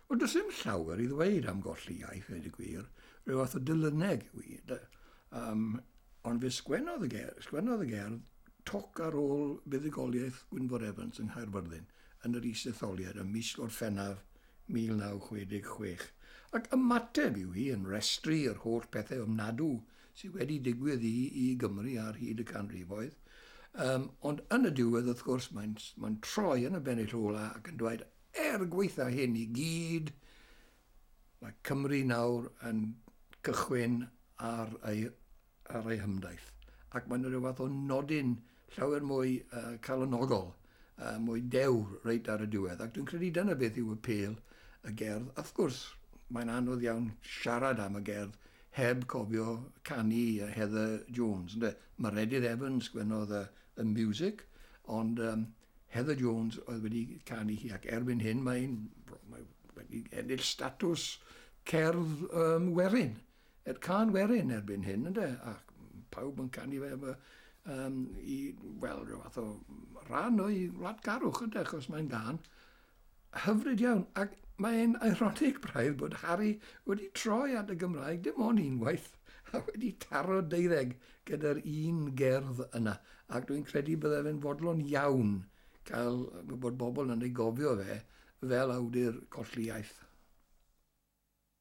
Wel, does dim llawer i ddweud am golli iaith, dweud y gwir. Rhyw fath o dylyneg yw i. Um, ond fe sgwennodd y gerdd, sgwennodd y gerdd toc ar ôl buddugoliaeth Gwynfor Evans yng Nghaerfyrddin yn yr is-etholiad ym mis Gorffennaf 1966. Ac ymateb yw hi yn restru yr holl pethau ofnadw sydd wedi digwydd i, i Gymru ar hyd y canrifoedd. Um, ond yn y diwedd, wrth gwrs, mae'n mae troi yn y bennill ola ac yn dweud, er gweitha hyn i gyd, mae Cymru nawr yn cychwyn ar ei, ar ei hymdaith. Ac mae'n rhyw fath o nodyn llawer mwy calonogol, mwy dewr reit ar y diwedd, ac dwi'n credu dyna beth yw y pêl y gerdd. Wrth gwrs, mae'n anodd iawn siarad am y gerdd heb cofio canu Heather Jones, ynde? Mae Redydd Evans gwenodd y, y music, ond um, Heather Jones oedd wedi canu hi, ac erbyn hyn mae'n mae wedi ennill statws cerdd um, werin. Ed Cân Werin erbyn hyn ynde, ac pawb yn canu fe efo um, i, wel, rhyw fath o rhan o'i wladgarwch ynde, achos mae'n gân hyfryd iawn. Ac mae'n ironic braidd bod Harry wedi troi at y Gymraeg dim ond unwaith a wedi taro deuddeg gyda'r un gerdd yna. Ac dwi'n credu bydde fe'n fodlon iawn cael bod bobl yn ei gofio fe fel awdur colli iaith.